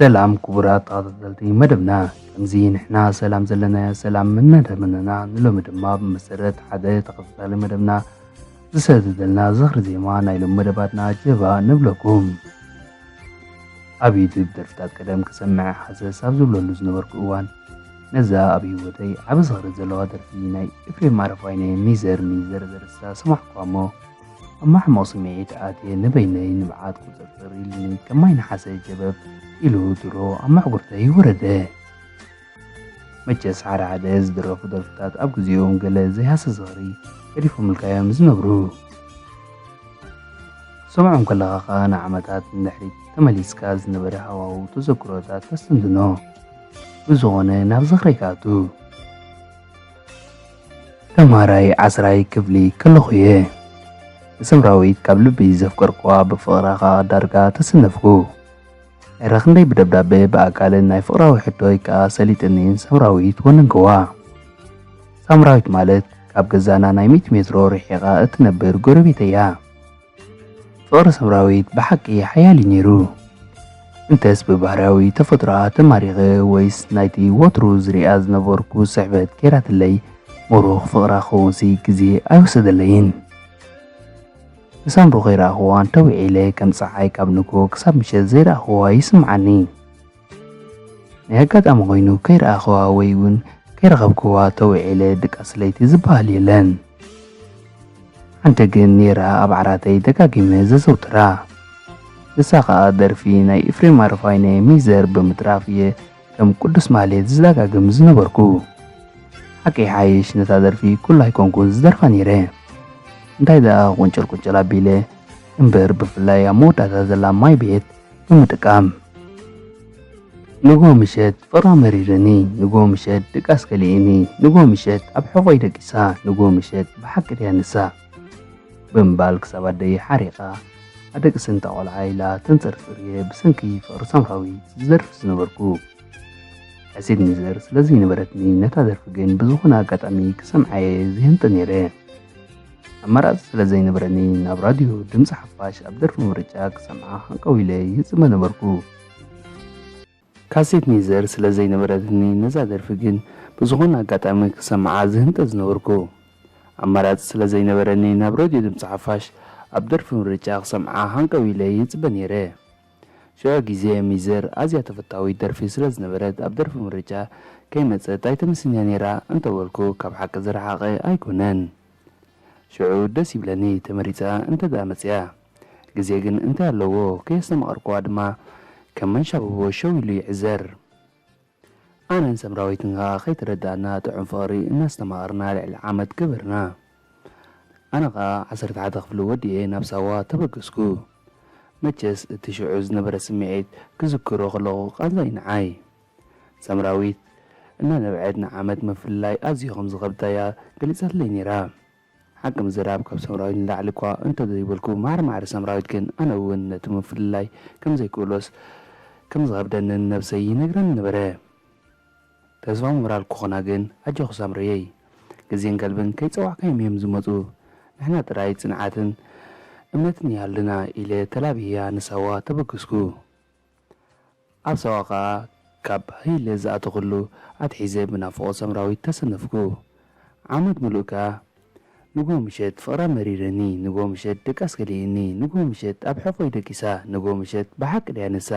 ሰላም ክቡራት ተኸታተልቲ መደብና ከምዚ ንሕና ሰላም ዘለና ሰላም እናደመነና ንሎሚ ድማ ብመሰረት ሓደ ተኸታታሊ መደብና ዝሰደደልና ዝኽሪ ዜማ ናይ ሎም መደባትና ጀባ ንብለኩም ኣብ ዩቱብ ደርፍታት ቀደም ክሰምዐ ሓሰስ ኣብ ዝብለሉ ዝነበርኩ እዋን ነዛ ኣብ ህይወተይ ዓብ ዝኽሪ ዘለዋ ደርፊ ናይ ኤፍሬም ኣረፋይነ ሚዘር ሚዘር ዘርሳ ሰማዕኳ እሞ ኣብ ማሕሞቕ ስምዒት ኣትየ ንበይነይ ንብዓት ቁፅርፅር ኢልኒ ከም ማይ ነሓሰ ጀበብ ኢሉ ድሮ ኣብ መሕጉርተይ ወረደ። መቸስ ሓደ ሓደ ዝድረፉ ደርፍታት ኣብ ግዜኦም ገለ ዘይሃስስ ዝኽሪ ገዲፎምልካ እዮም ዝነብሩ። ሰምዖም ከለኻ ከኣ ንዓመታት ንድሕሪት ተመሊስካ ዝነበረ ሃዋህው ተዘክሮታት ተስተንትኖ። ብዝኾነ ናብ ዝኽረይ ክኣቱ ተማሃራይ ዓስራይ ክፍሊ ከለኹ እየ ንሰምራዊት ካብ ልቢ ዘፍቀርኩዋ ብፍቕራ ከኣ ዳርጋ ተሰነፍኩ። እረ ክንደይ ብደብዳበ ብኣካልን ናይ ፍቕራዊ ሕቶይ ከኣ ሰሊጥኒን ሰምራዊት ወነንክዋ። ሳምራዊት ማለት ካብ ገዛና ናይ ሚእቲ ሜትሮ ርሒቓ እትነብር ጎረቤተይ'ያ። ፍቕሪ ሰምራዊት ብሓቂ ሓያል'ዩ ነይሩ። እንተስ ብባህርያዊ ተፈጥሮኣ ተማሪኸ ወይስ ናይቲ ወትሩ ዝርእያ ዝነበርኩ ስሕበት ገይራትለይ ምሩኽ ፍቕራ ክኸውንሲ ግዜ ኣይወሰደለይን። ንሳምሩ ከይረኣኹዋ እንተ ዊዒለ ከም ጸሓይ ካብ ንግሆ ክሳብ ምሸት ዘይረኣኹዋ ይስምዓኒ። ናይ ኣጋጣሚ ኮይኑ ከይረኣኹዋ ወይ ውን ከይረኸብኩዋ እንተ ዊዒለ ድቃስ ለይቲ ዝበሃል የለን። ሓንቲ ግን ኔራ ኣብ ዓራተይ ደጋጊመ ዘዘውትራ። ንሳ ከኣ ደርፊ ናይ ኢፍሬም ኣረፋይነ ሚዘር ብምጥራፍ እየ ከም ቅዱስ ማህሌት ዝዳጋግም ዝነበርኩ ሓቂ ይሓይሽ ነታ ደርፊ ኩሉ ኣይኮንኩን ዝደርፋ ነይረ እንታይ ደኣ ቁንጭል ቁንጭል ኣቢለ እምበር ብፍላይ ኣብ መወዳእታ ዘላ ማይ ቤት ብምጥቃም ንጎ ምሸት ፍቕራ መሪርኒ ንጎ ምሸት ድቃስ ከሊእኒ ንጎ ምሸት ኣብ ሕቖይ ደቂሳ ንጎ ምሸት ብሓቂ ድያ ንሳ ብምባል ክሳብ ኣደይ ሓሪቓ ኣደቂ ስንታ ቆልዓ ኢላ ተንጸርጽር እየ ብሰንኪ ፍቕሪ ሳምራዊት ዝደርፍ ዝነበርኩ። ሕሲድ ሚዘር ስለ ዘይነበረትኒ ነታ ደርፊ ግን ብዝኾነ ኣጋጣሚ ክሰምዓ እየ ዝህንጥ ነይረ። ኣማራጺ ስለ ዘይነበረኒ ናብ ራድዮ ድምጺ ሓፋሽ ኣብ ደርፊ ምርጫ ክሰምዓ ሃንቀው ኢለ ይህጽመ ነበርኩ። ካሴት ኔዘር ስለ ዘይነበረትኒ ነዛ ደርፊ ግን ብዝኾነ ኣጋጣሚ ክሰምዓ ዝህንጠ ዝነበርኩ። ኣማራጺ ስለ ዘይነበረኒ ናብ ረድዮ ድምጺ ሓፋሽ ኣብ ደርፊ ምርጫ ክሰምዓ ሃንቀው ኢለ ይጽበ ኔረ። ሽዑ ግዜ ሚዘር ኣዝያ ተፈታዊት ደርፊ ስለ ዝነበረት ኣብ ደርፊ ምርጫ ከይመጸት ኣይተምስንያ ኔራ እንተበልኩ ካብ ሓቂ ዝረሓቐ ኣይኮነን። ሽዑ ደስ ይብለኒ ተመሪጻ እንተድኣ መጺኣ። ግዜ ግን እንታይ ኣለዎ ከየስተማቐርኩዋ ድማ ከም መንሻብቦ ሸው ኢሉ ይዕዘር። ኣነን ሰምራዊትን ከኣ ከይተረዳእና ጥዑም ፍቕሪ እናስተማቐርና ልዕሊ ዓመት ገበርና። ኣነ ከኣ ዓሰርተ ሓደ ክፍሊ ወዲኤ ናብ ሳዋ ተበገስኩ። መቸስ እቲ ሽዑ ዝነበረ ስምዒት ክዝክሮ ከለኹ ቃንዛ'ዩ ንዓይ። ሰምራዊት እናነብዐት ንዓመት ምፍልላይ ኣዝዩ ከም ዝኸብዳ'ያ ገሊጻትለይ ነይራ። ሓቂ ምዝራብ ካብ ሰምራዊት ንላዕሊ እኳ እንተዘይበልኩ ማዕረ ማዕረ ሰምራዊት ግን ኣነ እውን ነቲ ምፍልላይ ከምዘይክእሎስ ከምዝኸብደንን ነብሰይ ይነግረኒ ነበረ ተስፋ ምብራል ክኾና ግን ኣጆኺ ሳምረየይ ግዜን ከልብን ከይጸዋዕካዮም እዮም ዝመጹ ንሕና ጥራይ ጽንዓትን እምነትን ይሃሉና ኢለ ተላቢየያ ንሳዋ ተበገስኩ። ኣብ ሳዋ ከኣ ካብ ሃይለ ዝኣተኹሉ ኣትሒዘ ብናፍቖት ሳምራዊት ተሰነፍኩ። ዓመት ምሉእ ከኣ ንግሆ ምሸት ፍቕራ መሪረኒ፣ ንግሆ ምሸት ድቃስ ከሊእኒ፣ ንግሆ ምሸት ኣብ ሕቖይ ደቂሳ፣ ንግሆ ምሸት ብሓቂ ድያ ንሳ?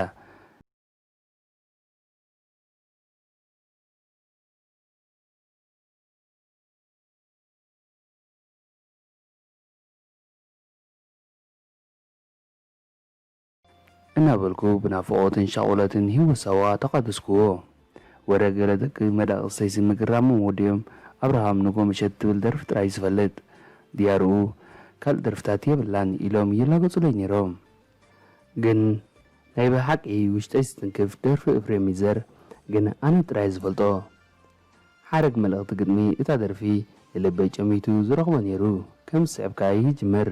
እናበልኩ ብናፍቖትን ሻቑሎትን ህይወት ሳዋ ተቓደስኩዎ። ወረ ገለ ደቂ መዳቕስተይሲ ምግራሞምዎ ድዮም ኣብርሃም ንጎምሸት ትብል ደርፊ ጥራይ ዝፈልጥ፣ ድያርኡ ካልእ ደርፍታት የብላን ኢሎም ይላገጹለይ ነይሮም። ግን ናይ ብሓቂ ውሽጠይ ዝትንክፍ ደርፊ እፍሬም ይዘር ግን ኣነ ጥራየ ዝፈልጦ። ሓረግ መልእኽቲ ግጥሚ እታ ደርፊ ንልበይ ጨሚቱ ዝረኽቦ ነይሩ። ከም ዝስዕብ ከኣ ይጅምር።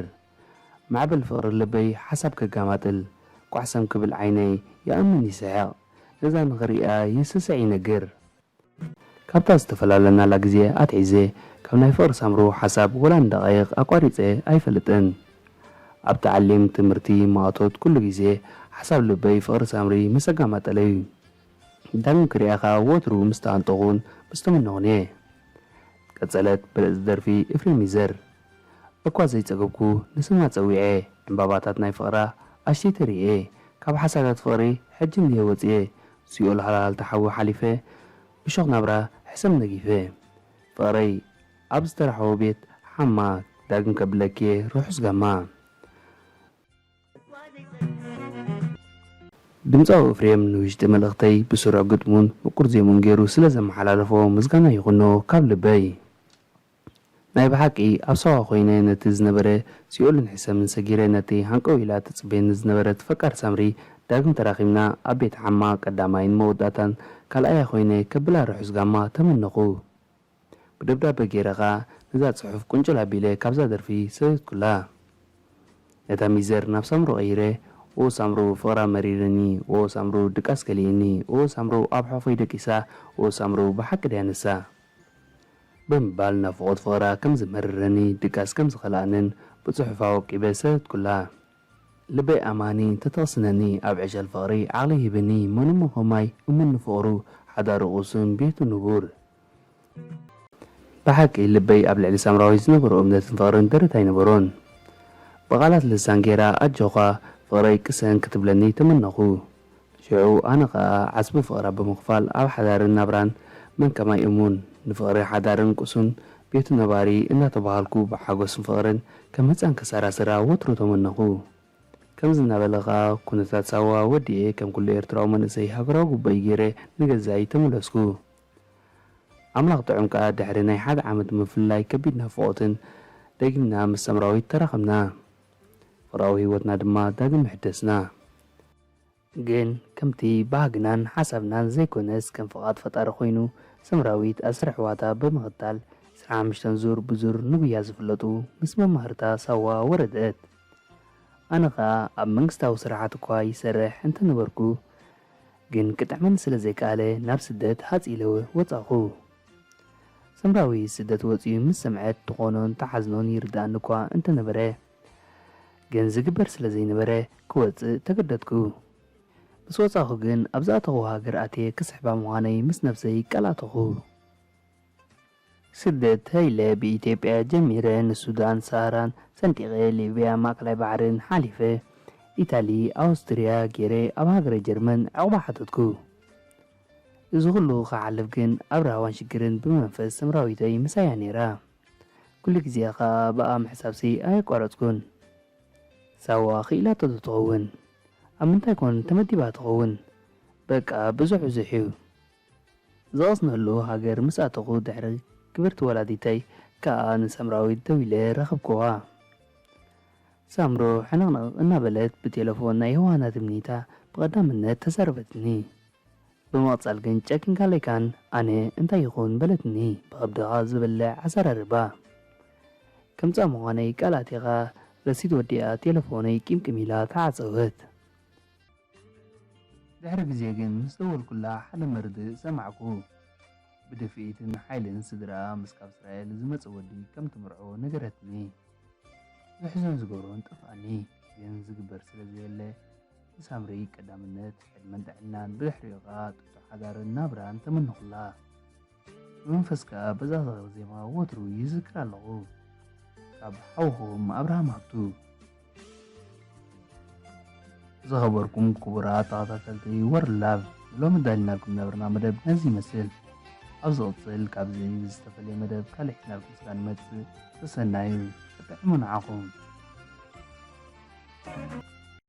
ማዕበል ፍቅሪ ልበይ ሓሳብ ከጋማጥል ቋሕሰም ክብል ዓይነይ ይኣምን ይስሕቅ ነዛ ንክርእያ ይስስዕ ይነግር። ካብታ ዝተፈላለናላ ግዜ ኣትሒዘ ካብ ናይ ፍቅሪ ሳምሩ ሓሳብ ወላ ንደቃይቅ ኣቋሪጸ ኣይፈልጥን ኣብ ተዓሊም ትምርቲ ማእቶት ኩሉ ግዜ ሓሳብ ልበይ ፍቅሪ ሳምሪ ምስ ኣጋማጠለዩ ዳግም ክርእያ ከኣ ወትሩ ምስ ተኣንጠኩን ምስ ተመነኩን እየ ቀጸለት ብልጽቲ ደርፊ እፍሬም ይዘር። እኳ ዘይጸገብኩ ንስማ ጸዊዐ ዕንባባታት ናይ ፍቕራ ኣሽቲተ ርእየ ካብ ሓሳዳት ፍቕሪ ሕጂ እንድየ ወጺኤ ሲኦል ሃልሃልታ ሓዊ ሓሊፈ እሾኽ ናብራ ሕሰም ነጊፈ ፍቕረይ ኣብ ዝተራሕወ ቤት ሓማ ዳግም ከብለኪ'የ ርሑስ ጋማ። ድምጻዊ እፍሬም ንውሽጢ መልእኽተይ ብስሩዕ ግጥሙን ምቁር ዜምኡን ጌሩ ስለ ዘመሓላለፎ ምስጋና ይኹኖ ካብ ልበይ። ናይ ብሓቂ ኣብ ሳዋ ኮይነ ነቲ ዝነበረ ሲኦልን ሕሰምን ሰጊረ ነቲ ሃንቀው ኢላ ትጽበየኒ ዝነበረት ፈቃር ሳምሪ ዳግም ተራኺብና ኣብ ቤት ዓማ ቀዳማይን መወዳእታን ካልኣያ ኮይነ ከብላ ርሑስ ጋማ ተመነኹ ብደብዳበ ጌረ ከኣ ነዛ ጽሑፍ ቁንጭል ኣቢለ ካብዛ ደርፊ ሰደድኩላ ነታ ሚዘር ናብ ሳምሩ ቀይረ ኦህ ሳምሩ ፍቅራ መሪርኒ ኦህ ሳምሩ ድቃስ ከሊእኒ ኦህ ሳምሩ ኣብ ሑቅፈይ ደቂሳ ኦህ ሳምሩ ብሓቂ ድያ ንሳ። ብምባል ናፍቖት ፍቕራ ከም ዝመረረኒ ድቃስ ከም ዝኸልኣንን ብጽሑፍ ኣወቂበ ሰደድኩላ። ልበይ ኣማኒ እንተተቕስነኒ ኣብ ዕሸል ፍቕሪ ዓቕሊ ሂብኒ መን'ሞ ከማይ እሙን ንፍቕሩ ሓዳሩ ቅሱን ቤቱ ንቡር። ብሓቂ ልበይ ኣብ ልዕሊ ሳምራዊት ዝነበሮ እምነትን ፍቕርን ደረት ኣይነበሮን። ብቓላት ልሳን ገይራ ኣጆዃ ፍቕረይ ቅሰን ክትብለኒ ተመነኹ። ሽዑ ኣነ ከኣ ዓስቢ ፍቕራ ብምኽፋል ኣብ ሓዳርን ናብራን መን ከማይ እሙን፣ ንፍቕሪ ሓዳርን ቅሱን ቤቱ ነባሪ እናተባሃልኩ ብሓጎስን ፍቕርን ከም ህጻን ክሰራስራ ወትሩ ተመነኹ። ከምዚ እናበለ ከኣ ኩነታት ሳዋ ወዲኤ ከም ኩሉ ኤርትራዊ መንእሰይ ሃገራዊ ግቡኣይ ገይረ ንገዛይ ተመለስኩ። ኣምላኽ ጥዑም ከኣ ድሕሪ ናይ ሓደ ዓመት ምፍልላይ ከቢድ ናፍቖትን ደጊምና ምስ ሳምራዊት ተራኸብና። ፍቕራዊ ህይወትና ድማ ዳግም ምሕደስና። ግን ከምቲ ባህግናን ሓሳብናን ዘይኮነስ ከም ፍቓድ ፈጣሪ ኮይኑ ሰምራዊት ኣስር ኣሕዋታ ብምኽታል ዕስራን ሓምሽተን ዙር ብዙር ንጉያ ዝፍለጡ ምስ መማህርታ ሳዋ ወረደት። ኣነ ከኣ ኣብ መንግስታዊ ስራሓት እኳ ይሰርሕ እንተነበርኩ ግን ክጥዕመኒ ስለ ዘይከኣለ ናብ ስደት ሃጽ ኢለ ወጻኹ። ሰምራዊ ስደት ወጺኡ ምስ ሰምዐት ትኾኖን ትሓዝኖን ይርድኣኒ'ኳ እንተነበረ ግን ዝግበር ስለ ዘይነበረ ክወጽእ ተገደድኩ። ምስ ወጻኹ ግን ኣብ ዝኣተኹዎ ሃገር ኣትየ ክስሕባ ምዃነይ ምስ ነብሰይ ቃል ኣተኹ። ስደት ሃይለ ብኢትዮጵያ ጀሚረ ንሱዳን ሰሃራን ሰንጢቐ ሊብያ ማእከላይ ባሕርን ሓሊፈ ኢታሊ ኣውስትርያ ጌረ ኣብ ሃገረ ጀርመን ዕቑባ ሓተትኩ። እዚ ኩሉ ክሓልፍ ግን ኣብ ራህዋን ሽግርን ብመንፈስ ሰምራዊተይ ምሳያ ኔራ ኩሉ ግዜ ክኣ ብኣ ምሕሳብሲ ኣየቋረጽኩን ሳዋ ክኢላቶ ዶ ትኸውን ኣብ ምንታይ ኮን ተመዲባ ትኸውን በቃ ብዙሕ ብዙሕዩ ዝቐስነሉ ሃገር ምስ ኣተኹ ድሕሪ ክብርቲ ወላዲተይ ክኣ ንሰምራዊት ደዊለ ረኸብኩዋ ሳምሩ ሕንቕንቕ እናበለት ብቴለፎን ናይ ዮውሃና ትምኒታ ብቐዳምነት ተዛረበትኒ። ብምቕጻል ግን ጨኪንካ ለይካን ኣነ እንታይ ይኹን በለትኒ ብኸብድኻ ዝብልዕ ኣዛራርባ ከም ጻም ምዃነይ ቃል ኣቲኻ ረሲት ወዲኣ ቴለፎነይ ቂምቅም ኢላ ተዓጸወት። ድሕሪ ግዜ ግን ምስ ደወልኩላ ሓደ መርድእ ሰማዕኩ ብድፍኢትን ሓይልን ስድርኣ ምስ ካብ እስራኤል ዝመጸ ወዲ ከም ትምርዖ ነገረትኒ። ዘሕዝን ዝገብሮን ጠፍኣኒ ግን ዝግበር ስለ ዘየለ ንሳምሪ ቀዳምነት ዕድመን ጥዕናን ብድሕሪኡ ከኣ ጥጡሕ ሓዳርን ናብራን ተመነኹላ። ብመንፈስ ከኣ በዛ ዝኽሪ ዜማ ወትሩ ይዝክራ ኣለኹ። ካብ ሓውኹም ኣብርሃም ሃብቱ። ዝኸበርኩም ክቡራት ተኸታተልቲ ወርልድ ላቭ ንሎሚ ዳሊናልኩም ዝነበርና መደብ ነዚ ይመስል። ኣብ ዝቕጽል ካብዚ ዝተፈልየ መደብ ካልእ ሒዝናልኩም ስጋ ንመጽእ ሰሰናዩ። ጥዕሙ ንዓኹም።